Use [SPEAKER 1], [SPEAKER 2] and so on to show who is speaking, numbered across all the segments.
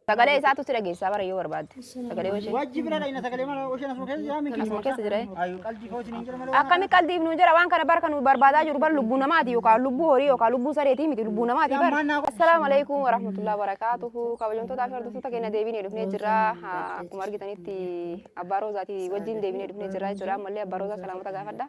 [SPEAKER 1] Sagalee isaatu si dhageessaa bara yoo barbaadde. Sagalee ishee. Wajji bira dhayna sagalee mana
[SPEAKER 2] osheen asuma keessa jiraa miti. Asuma keessa jira. Ayu
[SPEAKER 1] qaldi koo isiniin jira
[SPEAKER 2] malee. Akkami qaldiif nu jira
[SPEAKER 1] waan kana bara kan nu barbaadaa jiru bara lubbuu namaati yookaan lubbuu horii yookaan lubbuu sareetii miti lubbuu namaati bara. Assalaamu alaikum warahmatullahi wabarakaatuhu kabajamtootaa fi hordoftoota keenya deebinee dhufnee jirra akkuma argitanitti abbaa roozaatii wajjin deebinee dhufnee jirra jechuudha ammallee abbaa roozaa salaamota gaafadha.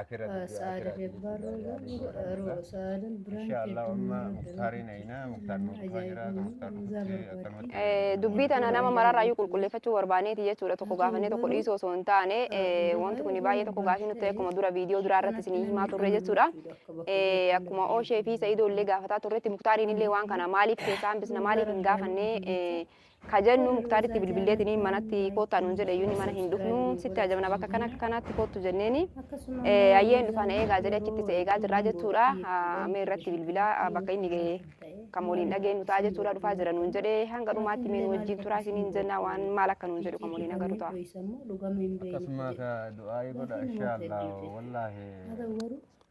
[SPEAKER 3] Akira video Saada akira deg video barro video yani ro barra ro saada brand Inshallah keetti umma mara muktari na ina muktar nu dhufa jira ka muktar nu dhufe akkanumatti Eh,
[SPEAKER 1] dubbii tana nama mararraayyuu qulqulleeffachuu barbaaneeti jechuudha tokko gaafannee tokko dhiisuu osoo hin taane eh, wanti kun baay'ee tokko gaafii nutti ta'e akkuma dura viidiyoo duraa irratti isinii himaa turre jechuudha Eh, akkuma ooshee fi sa'idoo illee gaafataa turretti muktaariin illee waan kana maaliif keessaa hambisna maaliif hin gaafanne eh, ka jennu muktaaritti bilbilleetiniin manatti koottaa nuun jedhe iyyuu ni mana hin dhufnu sitti ajabna bakka kana akka kanaatti koottu jenneeni ayyeen dhufaan eegaa jedhe achitti isa eegaa jirraa jechuudha mee irratti bilbilaa bakka inni ga'e kan waliin dhageenyu ta'a jechuudha dhufaa jira nuun jedhe hanga dhumaatti mee nu wajjin turaa isiniin jenna waan maal akka nuun jedhu kan waliin agarru ta'a. akkasuma
[SPEAKER 3] ka du'aa'ii godha insha allah wallaahi